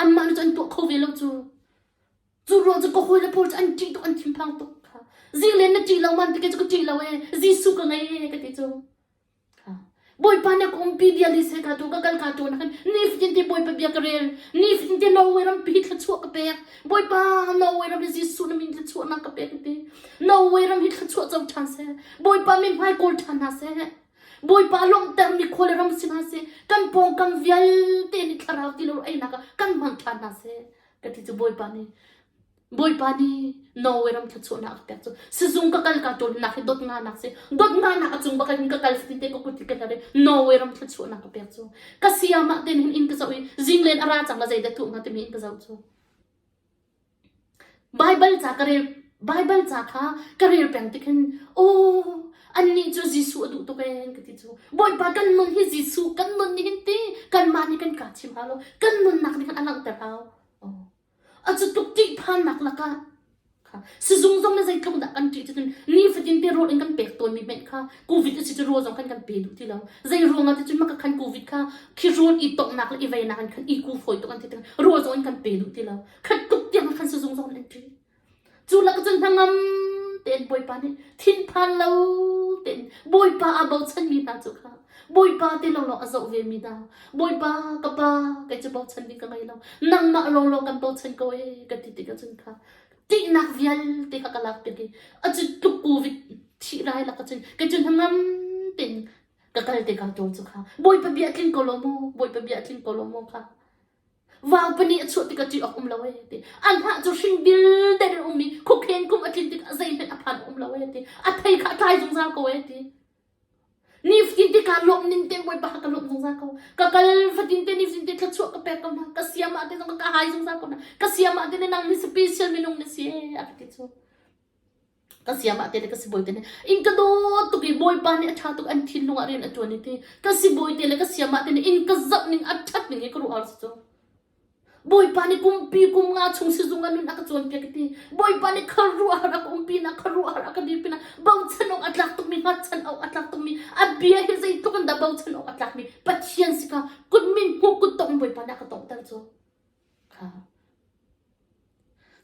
Anmah nih cun an tuah kho ve lo cu. Cu ruang cu ka hawile pawl cu an ṭih tuk, an thinphang tuk. Kha. Zilen na ṭih lo man tike cu ka ṭih lo ee. Jesuh ka ngei ee ka ti cu. Kha. Bawipa nih ka umpi bia li se ka tu ka kal ka tu nakin ni fatin te Bawipa bia ka rel. Ni fatin te Norway ram pi thluachuah ka pek. Bawipa Norway ram hi Jesuh na min thluachuahnak ka pek ka ti. Norway ram hi thluachuah co ṭhan seh. Bawipa mi hmai kawl ṭhan hna seh. Bawipa lawmhter mi khuale ram si hna seh. Kan pawngkam vialte nih thlarau ti lo einak kan hmang ṭhan hna seh. ka ti cu Bawipa nih Bawipa nih Norway ram thluachuahnak a ka pek cu sizung ka kal ka ṭawl hi nak hi dot nga nak si dot nga nak a cung bak in ka kal fatin te ka kut i ka tar i Norway ram thluachuahnak ka pek cu ka sia mah ten hin in ka zoh i zinglен a ra cang la zeidah tuh hnga timi in ka zoh cu Bible ca ka rel Baibal ca kha ka rel peng tik hin aw annih cu Jesuh a duh tuk ee an ka ti cu. Bawipa kan nun hi Jesuh kan nun nih hin ti kanmah nih kan kaa chim hau lo kan nunnak nih khan a langhter hau. Oh. A cu tuk ṭih phannak lakah kha sizung zong le zeitluk dah kan ṭih cutin ni fatin te rawl in kan pek tawnmi hmenh kha covid a si cu rawl zong khan kan pe duh ti lo zei ruangah ti cun maka khan covid kha khi rawl i tonghnak le i veinak in khan i ku fawi tuk an ti tik rawl zong in kan pe duh ti lo khat tuk tiang khan sizung zong in an ṭih Cu lakah cun hnangam tein Bawipa nih thinphan lo tein Bawipa aa bochanmi hna cu kha Bawipa ti lawlaw a zoh vemi hna Bawipa ka Pa kei cu bochan ding ka ngei lo nangmah lawlaw kan bochan ko ee ka ti tikah cun kha ṭihnak vialte kha ka lak tik i a cu tluk covid ṭhirai lakah cun kei cu hnangam tein ka kal tikah ṭung cu kha Bawipa bia tling ko law maw Bawipa bia tling ko law maw kha Vaang pahnih a chuah tikah ṭih awk um lo ee, ti. An hnah cu hring vialte in an um i khukheng kum a tlin tikah zeihmanh a phan a um lo ee, ti. A thei kha a tlai zungzal ko ee, ti. Nifatin te kaa lawmh ning te Bawipa ka lawmh zungzal ko. Ka kal fatin te nifatin te thluachuah ka pek ko hna. Ka siamah te zong ka kai zungzal ko hna. Ka siamah te ne nang nih special minung na si ee, a ka ti cu. Ka siam ah tete ka sibawi te nih inn ka dawt tuk i Bawipa nih a ṭha tuk an thinlung ah rian a ṭuan i ti ka sibawi te le ka siam ah te nih inn ka zamh ning a ṭhat ning i ka ruah arsi cu. Bawipa nih kumpi kum nga chung sizung ah nun a ka cawnpiak i ti Bawipa nih khuaruah har a ka umpi na khuaruah har a ka dir pinah bochan awk a tlak tukmi hngatchan awk a tlak tukmi a bia hi zeitluk in dah bochan awk a tlakmi Pathian si ka kut min hmuh kut tong in Bawipa nih a ka tawngter cu.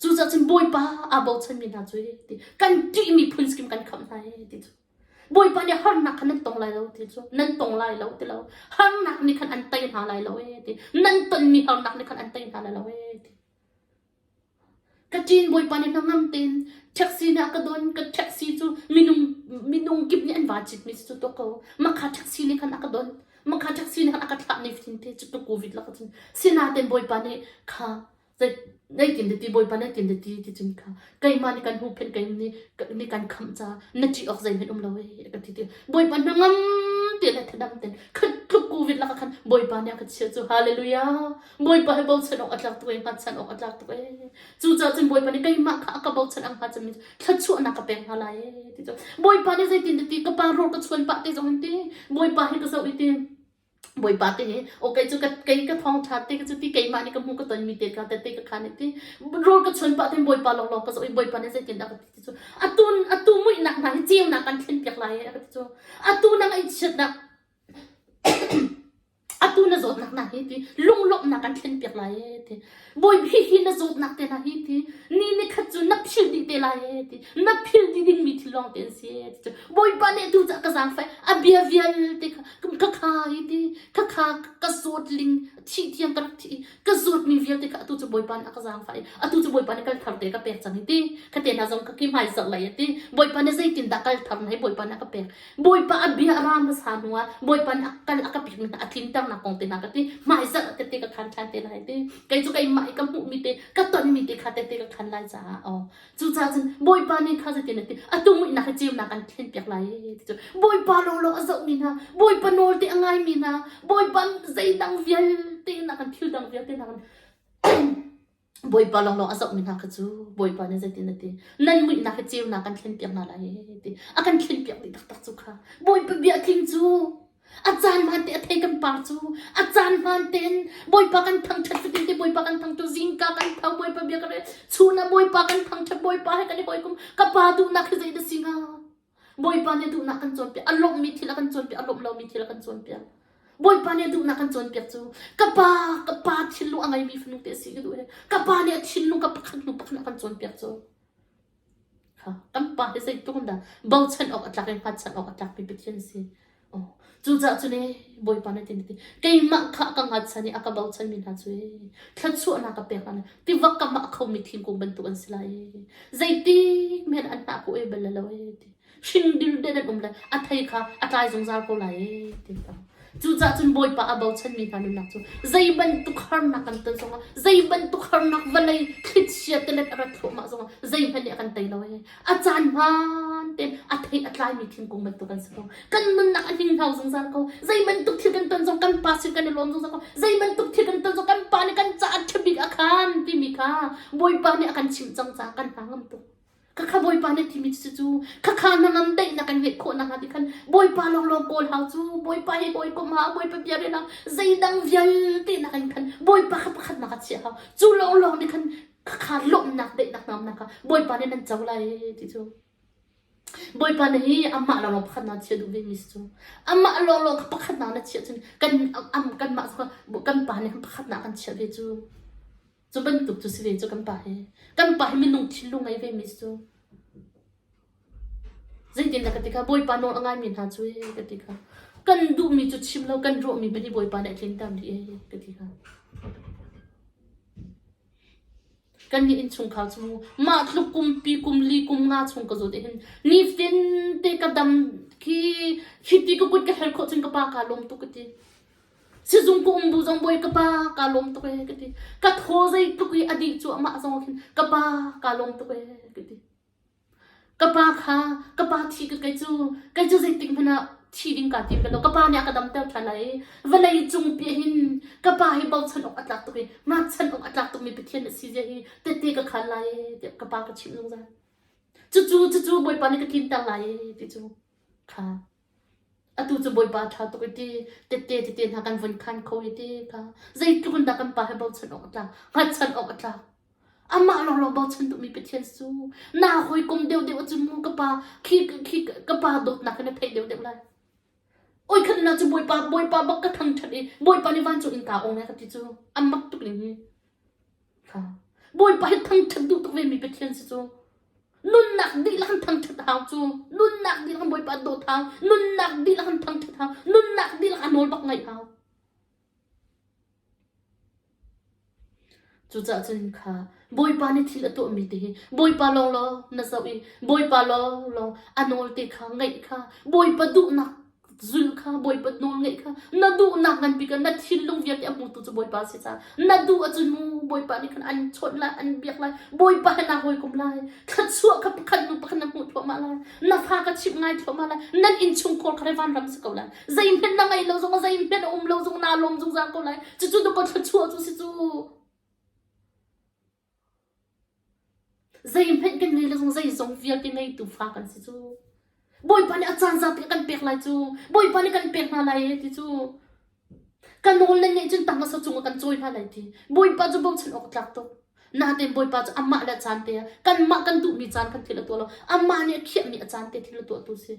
Cucaah cun Bawipa aa bochanmi hna cu ti kan ṭihmi phun skim kan khamh hna ee ti cu. Bawipa nih harnak kha nan tong lai lo ti cu nan tong lai lo ti lo harnak nih khan an tei hna lai lo ee ti nan tonmi harnak nih khan an tei hna lai lo ee ti. Ka ṭin Bawipa nih hnangam tein ṭheksi nih a ka don. Ka ṭheksi cu minung minung kip nih an van citmi cu cutuk ko. Makha ṭheksi nih khan a ka don. Makha ṭheksi nih khan a ka thlah ni fithin te cutuk covid lak ahcun. Sinain Bawipa nih kha zei zeitin deti Bawipa zeitin deti ti cun kha keimah nih kan huhphenh keimah nih nih kan khamh caah na ṭih awk zeihmanh um lo hei a kan ti ti. Bawipa hnangam te le thadam ten khan tluk covid lak ah khan Bawipa nih a ka chiah cu haleluia. Bawipa hi bochan awk a tlak tuk i hngatchan awk a tlak tuk e. Cucaah cun Bawipa nih keimah kha a ka bochan a hnga cunmi cu thluachuahnak ka pek hna lai e ti cun Bawipa nih zeitintiah ka pa ruak ka chuan pah te zong hin ti Bawipa hi ka zoh i ti Bawipa te nih okay cu ka kei ka thawngtha te cu ti keimah nih ka hmu ka tonmi te ka te te ka khan ti ror ka chuan pah te Bawipa laklawng ka zoh i Bawipa nih zeitin dah ka ti ti cu atun atu muihnak hna hi ceunak kan thlen piak lai e a ka ti cu atu na ngaihchiatnak Atu na zawtnak hna hi ti lunglawmhnak kan thlen piak lai ee ti Bawipa hihi na zawtnak te hna hi ti ni ni khat cu na philh dih te lai ee ti na philh dih dingmi thil lawng te an si ee ti cun Bawipa nih tu cah ka zaangfai a bia vialte kha ka kha hi ti ka kha ka zawt ling thih thiam ka rak thi i ka zawtmi vialte kha atu cu Bawipa nih a ka zaangfai i atu cu Bawipa nih kal thar te ka pek cang hi ti ka te hna zong ka ki hmai zarh lei a ti Bawipa nih zeitindah kal thar na hi Bawipa nih a ka pek Bawipa a bia a ra hmasa hnuah Bawipa nih a kal a ka pek hna a tlinter hna kong te hna ka ti hmaizarh tete ka khan ṭhan te lai ti kei cu keimah i ka hmuhmi te ka tonmi te kha tete ka khan lai caah aw cucaah cun Bawipa nih kha cutin a ti a tumihnak hi ceunak an thlen piak lai ti cu Bawipa lawlaw a zohmi hna Bawipa nawlte a ngaimi hna Bawipa zeihdang vialte hna kan thil dang vialte hna kan Bawipa lawnglawng a zohmi hna kha cu Bawipa nih zeitin a ti? Nan muihnak hi ceunak kan thlenpiak hna lai ti. A kan thlenpiak dih taktak cu kha. Bawipa bia tling cu a caan hmaan te a thei kan par cu a caan hmaan tein Bawipa kan thangṭhat fatin te Bawipa kan thangṭu zingka kan tho Bawipa bia kan rel chun ah Bawipa kan thangṭhat Bawipa he kan i hawikom ka pa duhnak hi zei na si hnga? Bawipa nih a duhnak kan cawnpiak. A lawmhmi thil a kan cawnpiak, a lawmh lomi thil a kan cawnpiak. Bawipa nih a duhnak kan cawnpiak cu ka pa, ka pa thinlung a ngeimi fanu te a si ka duh i ka pa nih a thinlung ka pakhat hnu pakhat a kan cawnpiak cu. Kan pa hi zeitluk in dah bochan awk a tlak i hngatchan awk a tlakmi Pathian a si. Cucaah cu le Bawipa nih tiin a ti. Keimah kha a ka ngachan i a ka bochanmi hna cu ee, thluachuahnak ka pek hna. Tivak kamah a khomi thingkung bantuk an si lai ee. Zeitik men an hna khawh ee bal lo ee ti. Hringdir den an um lai. A thei kha a tlai zungzal ko lai ee ti ka. Cucaah cun Bawipa a bochanmi hna nunnak cu zei bantuk harnak kan ton zongah, zei bantuk harnak vawlei thlichia te let a rat thluahmah zongah zeihmanh nih a kan tei lo ee. A caan hmaan tein a thei a tlaimi thingkung bantuk kan si ko. Kan nunnak a ninghlau zungzal ko. Zeibantuk thil kan ton zong kan pa sin kan i lawm zungzal ko. Zeibantuk thil kan ton zong kan pa nih kan caah ṭhabik a khan timi kha Bawipa nih a kan chimh cang caah kan hna ngam tuk. Khakha Bawipa nih a timi cucu cu khakha hnangam deih na kan ngeih khawh nakhnga ti khan Bawipa lawnglawng kawl hau cu. Bawipa he ka hawikom hau. Bawipa bia rian hau. Zeidang vialte na kan khan Bawipa kha pakhatnak a chiah hau. Cu lawnglawng nih khan khakha lawmhnak daihnak hna umnak kha Bawipa nih nan co lai ti cu Bawipa na hi amah lawnglawng pakhat na chia duh vemi si cu amah lawnglawng kha pakhatnak na chiah cun kan am kanmah kha kan pa nih khan pakhatnak kan chiah ve cu cu bantuk cu si ve cu kan pa hi kan pa hi minung thinlung ngei ve mi si cu zeitin dah ka ti kha Bawipa nawl a ngaimi hna cu ee ka ti kha kan duhmi cu chim lo kan ruahmi bani Bawipa nih a tlinter dih ee ka ti kha Kannih innchungkhar cu mah tluk kum pi kum li kum nga chung ka zut ahhin nitin te ka dam khi hiti ka kut ka herh khawh cun ka pa kaa lawm tuk ka ti. Sizung ka um bu zong bawi ka pa kaa lawm tuk ee ka ti. Ka thaw zeitluk i a dih cu amah zong ahkhin ka pa kaa lawm tuk ee ka ti. Ka pa kha ka pa thi ka kei cu kei cu zeitik hmanh ah thi ding kaa tim lo. Ka pa nih a ka damter ṭhan lai i vawlei cung piah hin ka pa hi bochan awk a tlak tuk i hngatchan awk a tlak tukmi Pathian a si zia hi tehte ka khaan lai ee tiah ka pa ka chimh zungzal. Cucu cucu Bawipa nih ka tlinter lai ee ti cu kha Atu cu Bawipa ṭha tuk i ti tette tete hna kan vun khan kho i ti kha zeitluk in dah kan Pa he bochan awk a tlak, hngatchan awk a tlak. Amah lawnglawng bochan duhmi Pathian si u. Naa hawikom deuhdeuh a cim mu ka Pa, khi khi ka Pa dawtnak hi na theih deuhdeuh lai. Oi khan na cu Bawipa, Bawipa bak ka thangṭhat i Bawipa nih vancung innka ong lai ka ti cu, a mak tuk ning hi. Bawipa hi thangṭhat duh tuk vemi Pathian si cu. Nunnak dihlak in thangṭhat hau cu. Nunnak dihlak in Bawipa dawt hau. Nunnak dihlak in thangṭhat hau. Nunnak dihlak a nawl bak ngaih hau. Cucaah cun kha Bawipa nih thil a tuahmi te hi Bawipa lawng lawng na zoh i Bawipa lawng lawng a nawl te kha ngaih kha Bawipa duhnak Zulh kha Bawipa nawl ngaih kha na duhnak nganpi kha na thinlung vialte a hmutu cu Bawipa si ca na duh ahcun mu Bawipa nih khan an chawnh lai an biak lai Bawipa he naa hawikom lai thluachuah kha pakhat hnu pakhat na hmuh thluahmah lai na fa kha chimh ngai thluahmah lai nan innchungkhar kha vanram si ko lai zeihmanh na ngei lo zong zeihmanh a um lo zong naa lawm zungzal ko lai cucu dawka thluachuah cu si cu Zeihmanh kan ngei le zong zeizong vialte ngeitu fa kan si cu. Bawipa nih a caan zate a kan pek lai cu. Bawipa nih kan pek hna lai e ti cu. Ka nawl le ngeih cun tang a sa cung ah kan cawi hna lai ti. Bawipa cu bochan awk a tlak tuk. Natein Bawipa cu amah le a caan te ah kanmah kan duhmi caan khan thil a tuah lo. Amah nih a khiahmi a caan te thil a tuahtu si.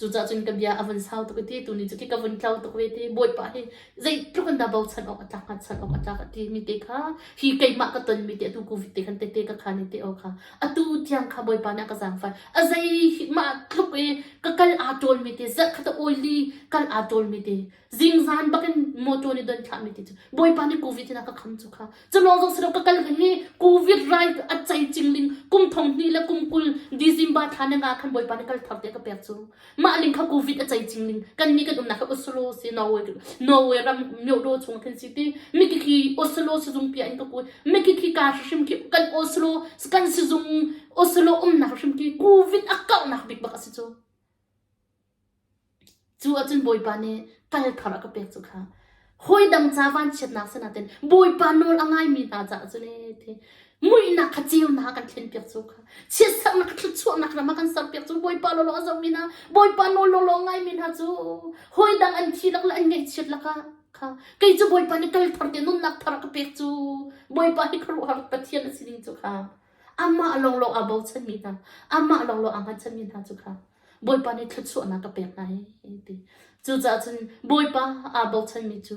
Cucaah cun ka bia a vun sau tuk i ti tu nih cu khi ka vun tlau tuk ve ti. Bawipa hi zeitluk in dah bochan awk a tlak, hngatchan awk a tlak a ti mi te kha, hi keimah ka ton mi te, atu Covid te khan tete ka khan i te aw kha. Atu tiang kha Bawipa nih a ka zaangfai. A zei mah tluk i ka kal aa ṭawl mi te, zarh khat a awi li kal aa ṭawl mi te. Zingzan bakin motor nih don thlahmi ti cu Bawipa nih Covid in a ka kham cu kha. Culawng zong si lo ka kal king i Covid rai a cei cing ding kum thong hnih le kum kul December thla ne nga khan Bawipa nih kal thar te ka pek cu. Mah ling kha Covid a cei cing ling kan ni kan umnak kha Oslo si Norway Norway ram Myodo chung khin si ti miki khi Oslo sizung pia in ka kui miki khi ka hrim ki kan Oslo kan sizung Oslo umnak hrim ki Covid a kaunak bik bak a si cu. Cu ahcun Bawipa nih kal thar a ka pek cu kha hawi dang ca vanchiatnak sin ah Bawipa nawl a ngaimi hna caah cun ee ti muihnak kha ceunak a kan thlen piak cu kha chiatserhnak thluachuahnak ram a kan ser piak cu Bawipa lawlaw a zohmi hna Bawipa nawl lawlaw a ngaimi hna cu hawi dang an thi lak le an ngaihchiat lakah kha kei cu Bawipa nih kal thar te nunnak thar a ka pek cu Bawipa hi khuaruahhar Pathian a si ding cu kha Amah lawnglawng aa bochanmi hna, amah lawnglawng aa hngatchanmi hna cu kha Bawipa nih thluachuahnak a pek hna hei, ti. Cucaah cun Bawipa aa bochanmi cu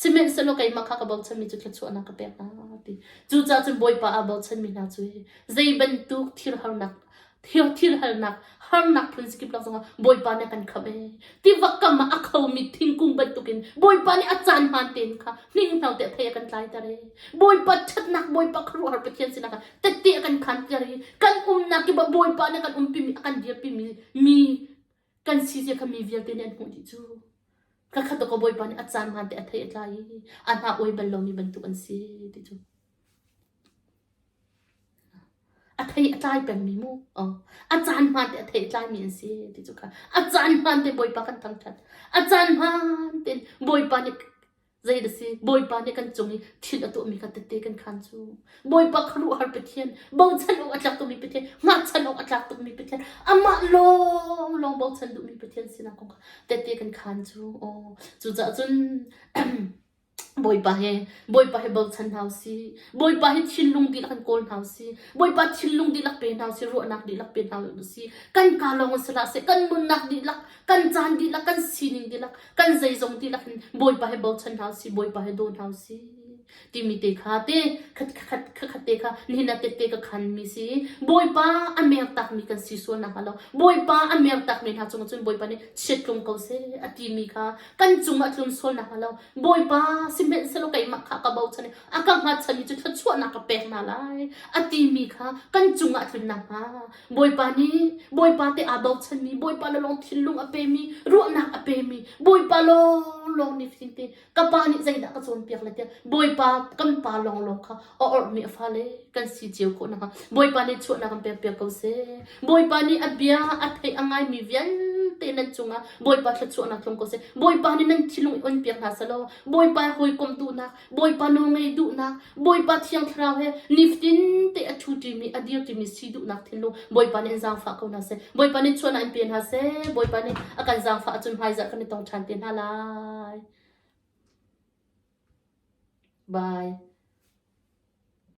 sihmanhsehlaw keimah kha ka bochanmi cu thluachuahnak ka pek hna, ti. Cucaah cun Bawipa aa bochanmi hna cu hi zei bantuk thil harnak thilhalnak harnak phun sikip nak zongah Bawipa nih a kan khamh ee. Tiva kam ah a khomi thingkung bantukin Bawipa nih a caan hmaan tein kha hninghnau te thei a kan tlaiter ee. Bawipa ṭhatnak Bawipa khuaruahhar Pathian sinah kha tette a kan khanter i kan umnak i Bawipa nih a kan umpimi a kan dirpimi mi kan si zia kha mi vialte nih an hmuh dih cu. Ka khat ka bawipa nih a caan hmaan te a thei a tlai i a hna oai bal lomi bantuk an si ti cu. A thei a tlai pengmi mu. Oh. A caan hmaan te a thei a tlaimi an si ti cu ka. A caan hmaan te bawipa kan thangṭhat. A caan hmaan tein bawipa nih Zei na si, Bawipa nih kan cung i thin a tuahmi kha tete kan khaan cu. Bawipa khuaruahhar Pathian, bochan awk a tlak tukmi Pathian, ngahchan awk a tlak tukmi Pathian, amah lawnglawng bochan duhmi Pathian sinak kong kha tete kan khaan cu. Aw, cucaah cun Bawipa he Bawipa he bochan hna u sih. Bawipa he thinlung dihlak in kawl hna u sih. Bawipa thinlung dihlak pe hna u sih, ruahnak dihlak pe hna u sih. Kan kaa lawng sih hlah seh, kan nunnak dihlak, kan caan dihlak, kan sining dihlak, kan zeizong dihlak in Bawipa he bochan hna usih, Bawipa he daw hna usih timi te kha te khat khat khat te kha nihin ah tette ka khan mi si Bawipa a mer tak mi kan si sualnak a lo Bawipa a mer tak mi hna cung cun Bawipa nih chiat tlung ko se a ti mi kha kan cung a tlun sualnak a lo Bawipa si hmenh selaw keimah kha ka bochan i a ka hngatchan mi cu thluachuahnak ka pek hna lai a ti mi kha kan cung ah tlun nakhnga Bawipa nih Bawipa te aa bochanmi Bawipa le lawng thinlung a pemi ruahnak a pemi Bawipa lawnglawng nifin te ka pa nih zeidah ka cawnpiak le tiah Bawipa kan pa lawnglawng kha a orhmi a fale kan si cio khawh nakhnga Bawipa nih chuahnak kan pekpiak ko seh Bawipa nih a bia a theih a ngaimi vialte nan cungah Bawipa thluachuahnak tlung ko seh Bawipa nih nan thinlung i onpiak hna selaw Bawipa hawikomtu hna Bawipa nawl ngei duhnak, Bawipa Thiang Thlarau he niftin te a ṭhu ṭimi a dir ṭimi si duhnak thinlung Bawipa nih in zaangfah ko hna seh. Bawipa nih chuahnak in pe hna seh. Bawipa nih a kan zaangfah ahcun hmaizarh kan i tong ṭhan te hna lai. Bye.